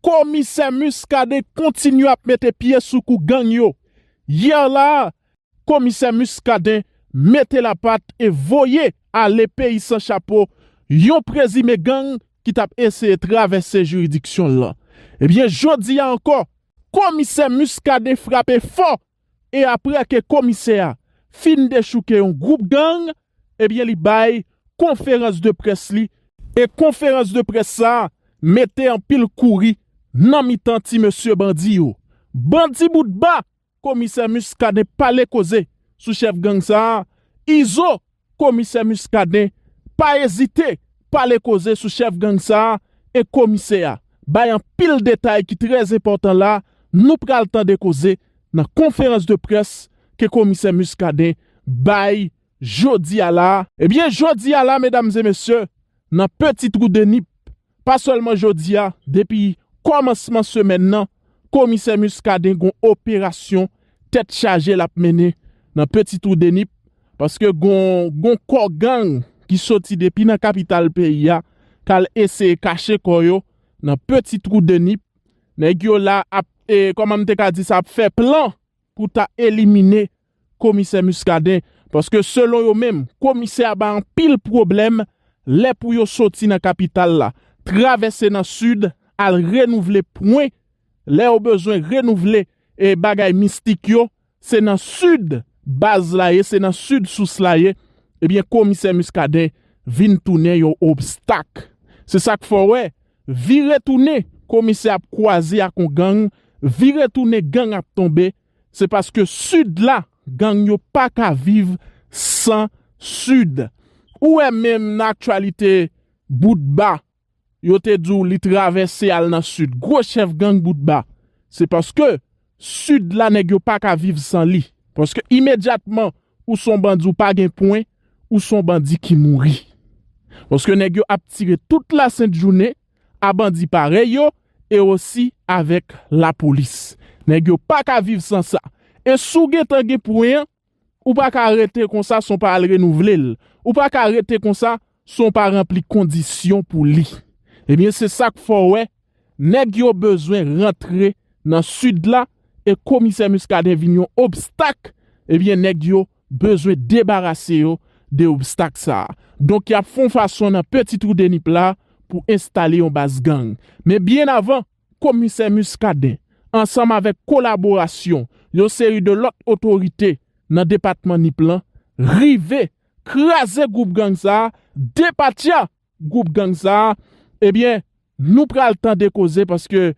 Komisè Muscadin kontinye ap mete pye sou kou gang yo. Yè la a, Komisè Muscadin mete lapat e voye ale peyi san chapo yon prezime gang ki t ap eseye travèse jiridiksyon l lan. Ebyen jodi a ankò, Komisè Muscadin frape fò e aprè ke komisè a fin dechouke yon gwoup gang ebyen li bay konferans de près li e konferans de près sa mete anpil kouri nan mitan ti mesye bandi yo. Bandi boutba! Komisè Muscadin pale koze sou chèf gang sa Izo Komisè Muscadin pa ezite pale koze sou chèf gang sa a e komisè a bay anpil detay ki trè enpòtan la nou pral tande koze nan konferans de près ke komisè Muscadin bay jodi a la. Ebyen jodi a la medam e mesye nan peti trou de nip Pa sèlman jodi a, depi kòmansman semèn nan, komisè Muscadin gon operasyon tèt chaje l ap mennen nan Peti Twou de Nip, paske gon gon kò gang ki soti depi nan kapital peyi a k al eseye kache kò yo nan Peti Twou de Nip, nèg yo la ap, kòman m te ka di sa, ap fè plan pou ta elimine Komisè Muscadin paske selon yo menm komisè a ba anpil pwoblèm lè pou yo soti nan kapital la travèse nan sid al renouvle pwen lè yo bezwen renouvle e bagay mistik yo se nan sid baz la ye se nan sid sous la ye ebyen komisè Muscadin vin tounen yon obstak se sak fè w wè vire tounen komisè ap kwaze ak yon gang vire tounen gang ap tonbe Se paske sud la gang yo paka viv san sud ou wè menm nan aktyalite boutba yo te di w li travèse al nan sud gwo chèf gang boutba se paske sud la nèg yo paka viv san li paske imedyatman ou son bandi ou pa gen pwen ou son bandi ki mouri paske nèg yo ap tire tout la sent jounen a bandi parèy yo e osi avèk lapolis. Nèg yo pa ka viv san sa. E si w gentan gen pwen an, ou pa ka rete konsa san w pa al renouvle l. Ou pa ka rete konsa san w pa ranpli kondisyon pou li. Ebyen se sa k fè w wè nèg yo bezwen rantre nan Sid la e komisè Muscadin vin yon obstak ebyen nèg yo bezwen debarase yo de obstak sa a. Donk y ap fè yon fason nan peti twou de nip la pou enstale yon baz gang. Men byen avan, komisè Muscadin, ansanm avèk kolaborasyon yon seri de lòt otorite nan depatman nip lan, rive kraze gwoup gang sa a depatya Gwoup gang sa a ebyen nou pral tande koze paske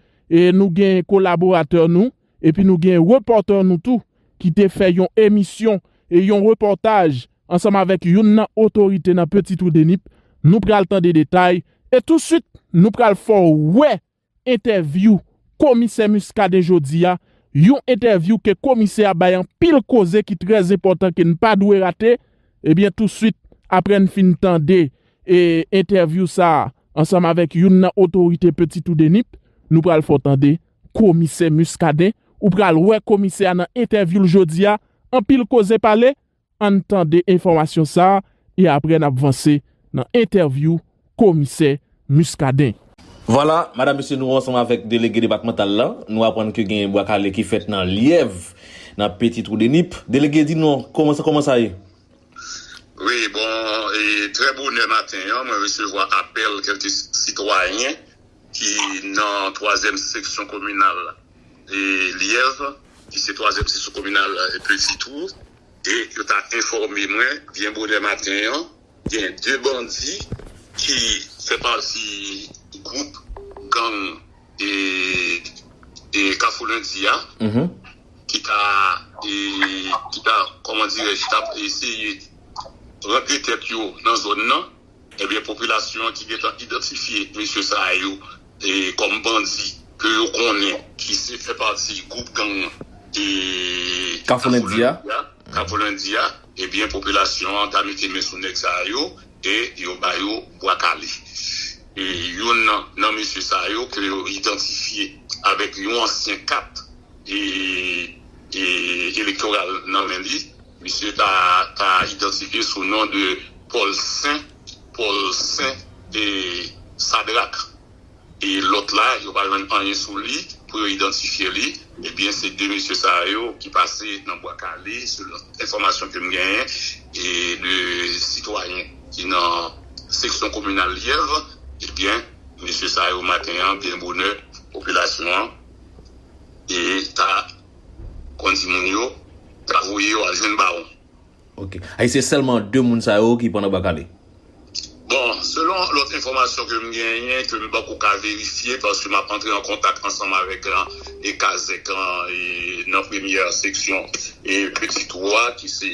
nou gen kolaboratè nou epi nou gen repòtè nou tou ki te fè yon emisyon yon repòtaj ansanm avèk youn nan otorite nan Petit Trou de Nip nou pral tande detay e touswit nou pral fè w wè Entèvyou Komisè Muscadin jodi a, yon entèvyou ke Komisè a bay anpil koze ki trè zenpòtan ke n pa dwe rate, ebyen touswit aprè n fin tande entèvyou sa a ansanm avèk youn nan otorite Peti Tou Denip, nou pral fè w tande Komisè Muscadin, ou pral wè Komisè a nan entèvyou l jodi a, anpil koze pale, Ann tande enfòmasyon sa e aprè n ap vanse nan entèvyou Komisè Muscadin. Vwala, madam mesye nou ansanm avèk delege depatmantal la, nou aprann ke gen bwa kale ki fèt nan Lyèv, nan Peti Twou de Nip. Delege di nou kòman kòman sa ye? Wi, bon, e trè bonè maten an mwen resevwa apèl kèlke sitwayen. ki nan twazyèm seksyon kominal Lyèv, ki se twazyèm seksyon kominal Peti Twou, e yo ta enfòme mwen byen bonè maten an, gen 2 bandi ki fè pati gwoup gang Kafou Lendi a, ki ta, ki ta, kòman dirèj, ki ta eseye rantre tèt yo nan zòn nan. Ebyen popilasyon an ki gentan idantifye mesye sa yo kòm bandi ke yo konnen ki se fè pati gwoup gang Kafou Lendi a, Kafou Lendi a, ebyen popilasyon an ta mete men sou nèg sa yo e yo ba yo bwa kale. Youn nan mesye sa yo ke yo idantifye avèk yon ansyen kat elektoral nan men li, misye ta ka idantifye sou non de Pòl Sen, Paul Saint, e Sadrak. E lòt la, yo pa jwenn anyen sou li pou yo idantifye li. Ebyen, se 2 mesye sa yo ki pase nan Bwa Kale, selon enfòmasyon ke m genyen e de sitwayen ki nan seksyon kominal Lyèv. Ebyen, mesye sa yo maten an, byen bonè, popilasyon an, e ta kondi moun yo ta voye yo al jwenn bawon. Ok. Ay se sèlman 2 moun sa yo ki pran anba kale? Bon, selon lòt enfòmasyon ke m genyen, ke m pako ka verifye, paske m ap antre an kontak ansanm avèk e kazèk lan e nan premyè seksyon e peti twou a ki se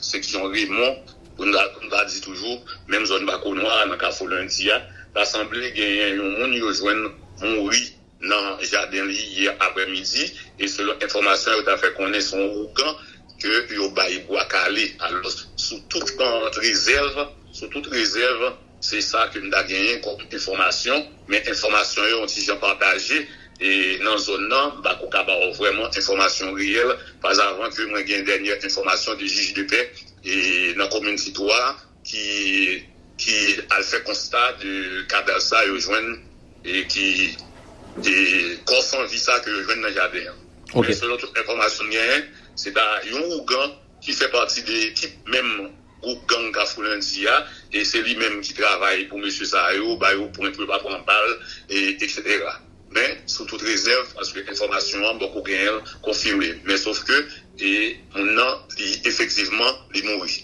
seksyon Remon, pou n ta pou n ta di toujou, menm zòn Bakonwa a nan kafou Lendi a, ta sanble genyen yon moun yo jwenn mouri. nan jaden li yè aprè midi e selon enfòmasyon yo ta fè konnen se yon ougan ke yo bay bwa kale alòs sou tout rezèv sou tout rezèv se sa ke m ta genyen kòm enfòmasyon men enfòmasyon yo yon ti jan pataje e nan zòn nan m pa ko ka ba w vrèman enfòmasyon reyèl pazavan ke mwen gen dènyè enfòmasyon de jij de pè e nan komin ti twa. ki ki al fè konsta de kadav sa yo jwenn e ki e kò san vi sa ke yo jwenn nan jaden an. Ok. Men selon tout enfòmasyon m genyen, se ta yon ougan ki fè pati de ekip menm gwoup gang Kafou Lendi a e se li menm ki travay pou mesye sa yo, ba yo pwen pou yo pa pran bal e eksetera. Men sou tout rezèv paske enfòmasyon an bòk ou genyen l konfime men sof ke e moun nan li efektivman li mouri.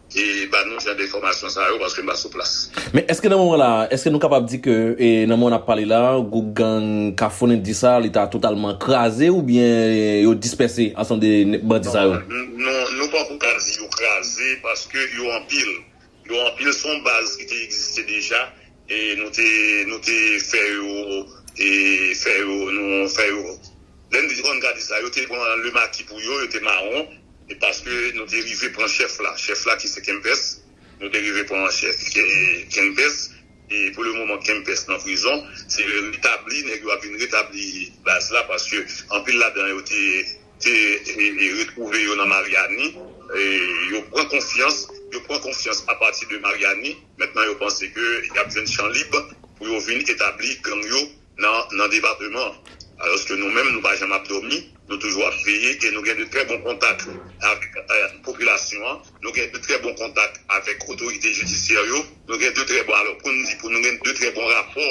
e ba nou jan de enfòmasyon sa yo paske m pa sou plas. Men eske nan moman la, eske nou kapab di ke nan moman n ap pale la, gwoup gang Kafou Nindy sa a li ta totalman kraze oubyen yo dispèse ansanm de bandi sa yo? Non, nou pako ka di yo kraze paske yo anpil. Yo anpil, se yon baz ki te egziste deja E nou te, nou te fè yo, e fè yo, nou fè yo. Lè n di Hon Gadi sa, yo te pran Le Maki pou yo, yo te mawon, e paske nou te rive pran chèf la, chèf la ki se Kempès, nou te rive pran chèf Kempès, e pou le moman Kempès nan prizon, se retabli, nèg yo ap vin retabli baz la, paske anpil ladan yo te. te retwouve yo nan Maryani, yo pran konfyans, yo pran konfyans apati de Maryani, mentnan yo panse ke yap jwenn chan lib pou yo vin etabli gang yo nan nan depateman an. Alòske nou menm nou pa janm ap dòmi, nou toujou ap veye e nou gen de trè bon kontak avèk popilasyon an, nou gen de trè bon kontak avèk otorite jidisyè yo, nou gen de trè bon, alò poun di pou nou gen de trè bon rapò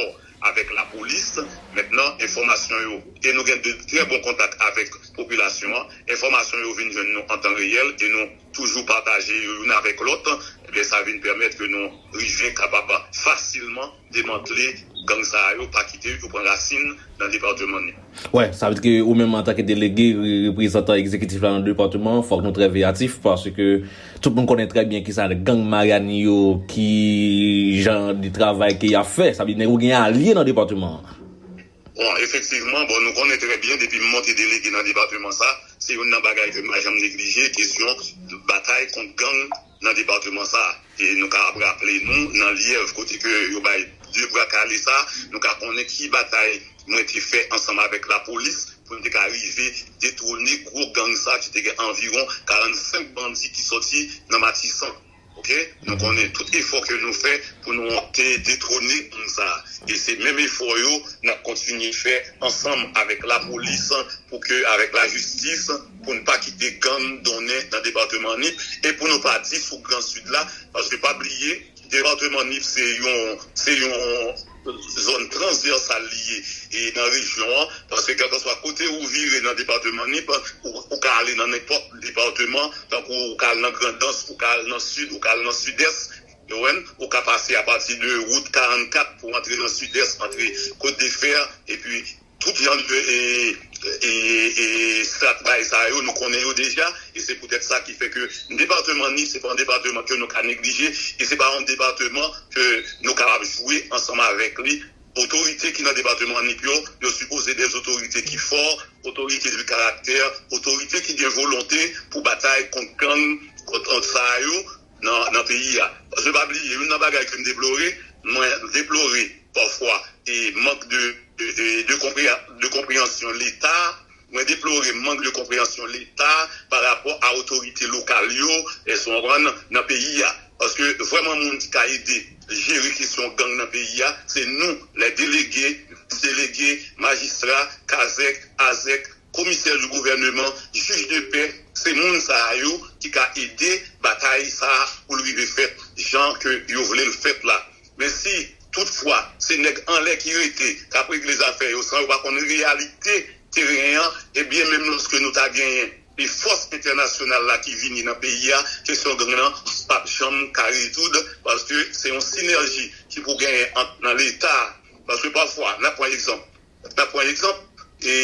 avèk lapolis mentnan enfòmasyon yo e nou gen de trè bon kontak avèk popilasyon an, enfòmasyon yo vin jwenn nou antan reyèl e nou toujou pataje yo youn avèk lòt, ebyen sa vin pèmèt ke nou rive kapab fasilman demantle gang sa yo pa kite yo pran rasin nan departeman nou. Wè, sa vle di ke ou menm antanke delege, reprezantan egzekitif la nan depatman an, fòk nou trè veyatif paske tout moun konnen trè byen kisa gang Maryani yo, ki jan de travay ke y ap fè. Sa vle di nèg ou gen alye nan depatman an. Bon, efektivman, bon nou konnen trè byen depi m monte delege nan depatman sa, se youn nan bagay ke m pa janm neglije, kesyon batay kont gang nan departeman sa a. E nou ka ap raple nou nan Lyèv kote ke yo bay 2 bra kale sa a, nou ka konnen ki batay mwen te fè ansanm avèk lapolis pou n te ka rive detwone gwo gang sa a ki te gen anviwon 45 bandi ki sòti nan Matisan. Ok, nou konnen tout efò ke nou fè pou nou te detwone gang sa a. E se menm efò yo n ap kontinye fè ansanm avèk lapolis pou ke avèk lajistis, pou n pa kite gang donnen nan departeman Nip e pou nou pa di fouk gran Sid la paske pa bliye departeman Nip se yon se yon zòn transvèsal li ye e nan rejyon an paske kèlkanswa kote ou vire nan departeman Nip ou ka ale nan nenpòt departeman tankou ou ka al nan Grandans ou ka al nan Sid ou ka al nan Sidès ou ka pase apati de wout 44 pou antre nan Sidès antre Kotdefè epi. Tout vyann ke Strat bay sa yo, nou konnen yo deja, e se poutèt sa ki fè ke depateman Nip se pa yon depateman ke nou ka neglije, e se pa yon depateman ke nou kapab jwe ansanm avèk li. Otorite ki nan depateman Nip yo, yo sipoze dè otorite ki fò, otorite de karaktè, otorite ki gen volonte pou batay kont gang, kont sa yo. nan peyi a. Paske pa bliye youn nan bagay ke m deplore, mwen deplore pafwa e mank de de konpreyansyon leta, mwen deplore mank de konpreyansyon leta pa rapò a otorite lokal yo, èske ou konprann, nan peyi a. Paske vrèman moun ki ka ede jere kesyon gang nan peyi a se nou lè delege, delege, majistra, kazèk, azèk, komisè di gouvèneman, jij de pè, se moun sa a yo ki ka ede batay sa a pou l rive fèt jan ke yo vle l fèt la. Men si tout fwa se nèg anlè ki rete k ap regle zafè yo san yo pa konn reyalite teren an, ebyen menm lòske nou ta genyen e fòs entènasyonal la ki vini nan peyi a, kesyon gang lan p ap janm ka rezoud paske se yon sinèji ki pou genyen ant nan leta a. Paske pafwa n ap pran egzanp N ap pran egzanp e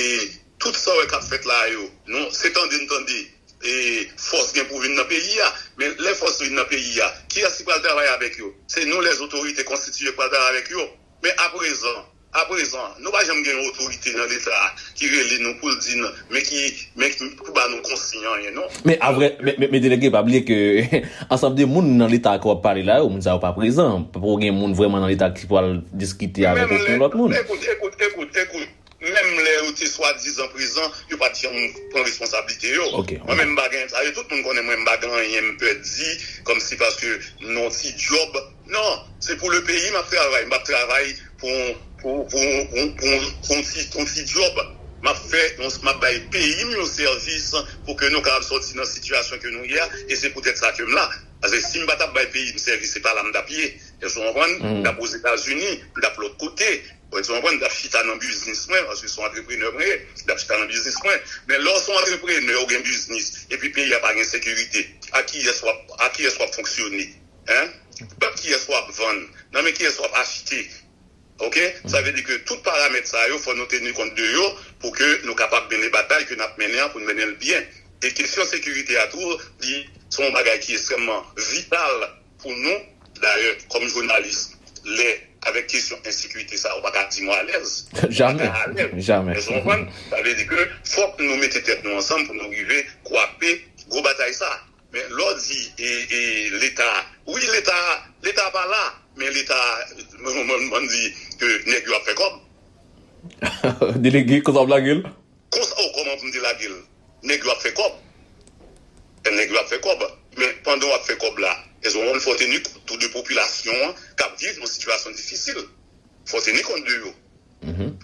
tout sa w wè k ap fèt la a yo. Nou se tande n tande e fòs gen pou vin nan peyi a. Men lè fòs vin nan peyi a, kiyès ki pral travay avèk yo? Se nou lèzotorite konstitiye k pral travay avèk yo. Men aprezan, aprezan, nou pa janm gen yon otorite nan Leta a ki rele nou pou l di n. men ki men pou ba nou konsiy anyen non. Men aprè men delege pa bliye ke ansanm de moun nan leta ke wap pale la yo moun sa yo pa prezan poko gen moun vrèman nan leta ki pwal diskite avèk oken lòt moun. Ekout ekout ekout ekout menm lè yo te swadizan prezan yo pat janm pran responsablite yo mwen menm m pa gen sa yo tout moun konnen mwen m pa gen anyen m pè di kòmsi paske m nan yon ti djòb Non, se pou le peyi map travay, mpap travay pou yon ti djòb, map fè, map bay peyim yon sèvis pou ke nou kapab sòti nan sitiyasyon ke nou ye a, e se poutèt sa kem la, paske sim pa tap bay peyim sèvis se pa la mtap ye, èske ou konprann, mtap ozetazini, mtap lòt kote, èske ou konprann, mtap chita nan biznis mwen, paske son antreprenè mwen ye, mtap chita nan biznis mwen, men lè ou son antreprenè ou gen biznis, epi peyi a pa gen sekirite, a kiyès wap fonksyone? hein pèp kiyès wap vann nan men kiyès wap achte ok sa vle di ke tout paramèt sa yo fò nou teni kont de yo pou ke nou kapab mennen batay ke nap mennen an poun mennenl byen e kesyon sekirite a tou li se yon bagay ki estrèmman vital pou nou dayè kòm jounalis lè avèk kesyon ensekirite sa ou paka di mwen alèz jamè jamè èske w konprann sa vle di ke fòk nou mete tèt nou ansanm pou nou rive kwape gwo batay sa. Men lè w di leta a, wi leta a, leta a pa la, men leta a, banm di ke nèg yo ap fè kòb. Delege, konsa w ap lage l? Konsa w kòman pou m te lage l? Nèg yo ap fè kòb, nèg yo ap fè kòb, men pandan w ap fè kòb la, èske w konn fò w teni kont tou de popilasyon an k ap viv yon sitiyasyon difisil? Fò w teni kont de yo.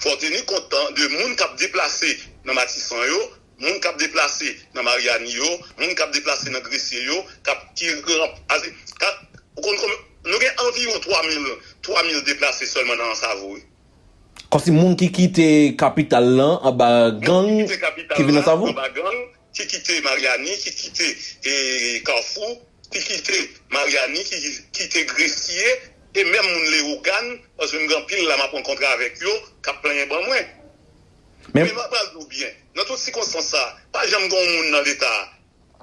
Fò w teni kont de moun k ap deplase nan Matisan yo. moun kap deplase nan Mariani yo, moun kap deplase nan Gresye yo, kap ki ranp aze ka ou konn konbyen nou gen anviwon 3 mil 3 mil deplase sèlman nan Ansavo wi. Kòmsi moun ki kite kapital lan anba gang ki vin Ansavo? Moun ki kite kapital la anba gang, ki kite Mariani, ki kite e Kafou, ki kite Mariani, ki kite Gresye e menm moun Lewogàn paske m gen anpil la map rankontre avèk yo kap plenyen ban mwen. Men. Eva pral di w byen, nan tout sikonstans sa, pa janm gen yon moun nan Leta a,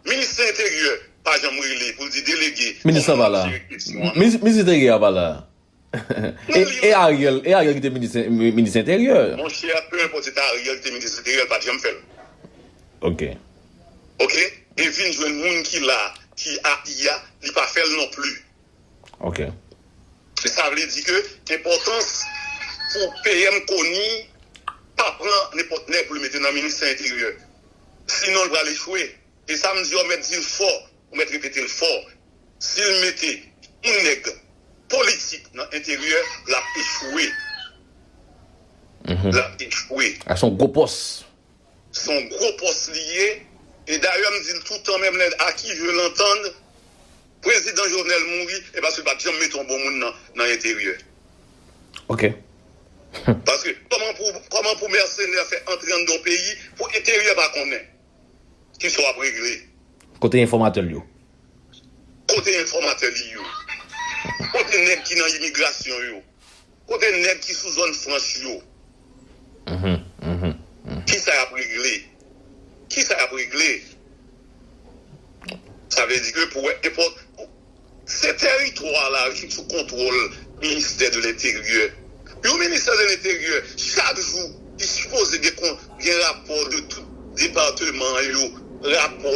Minis Enteryè, pa janm rele pou l di delege Minis lan pa la. Minis Enteryè a pa la. E Ariel, e Ariel ki te Minis Enteryè. Monchè, penenpòt se te Ariel ki te Minis Enteryè, l pa t janm fè l. Ok. Ok? E vin jwenn moun ki la, ki a IA, li pa fè l nonpli. Ok. Men sa vle di ke enpòtans pou PM Conille pa pran nenpòt nèg pou li mete nan ministè enteryè. Sinon li pral echwe. E sa m di a w mèt di l fò, ou mèt repete l fò. Si l mete yon nèg politik nan enteryè, l ap echwe. L ap echwe. Ak son gwo pòs. Son gwo pòs li ye e dayè m di l toutan menm lè a ki je lantann prezidan Jovenel mouri e paske l pat janm mete yon bon moun nan enteryè. Ok. Paske kòman pou kòman pou mèsenè fè antre anndan yon peyi pou enteryè pa konnen ki sa w ap regle. Kote enfòmatè l yo? Kote enfòmatè li yo? Kote nèg ki nan imigrasyon yo? Kote neg ki sou zone franch yo. Kisa yap regle. Kisa yap regle. Sa vle di ke pou wè epòt. Se teritwa la ki sou kontwòl ministè de lenteryè. Yon ministè de lenteryè chak jou li sipoze gen rapò de tout depateman yo. Rapò.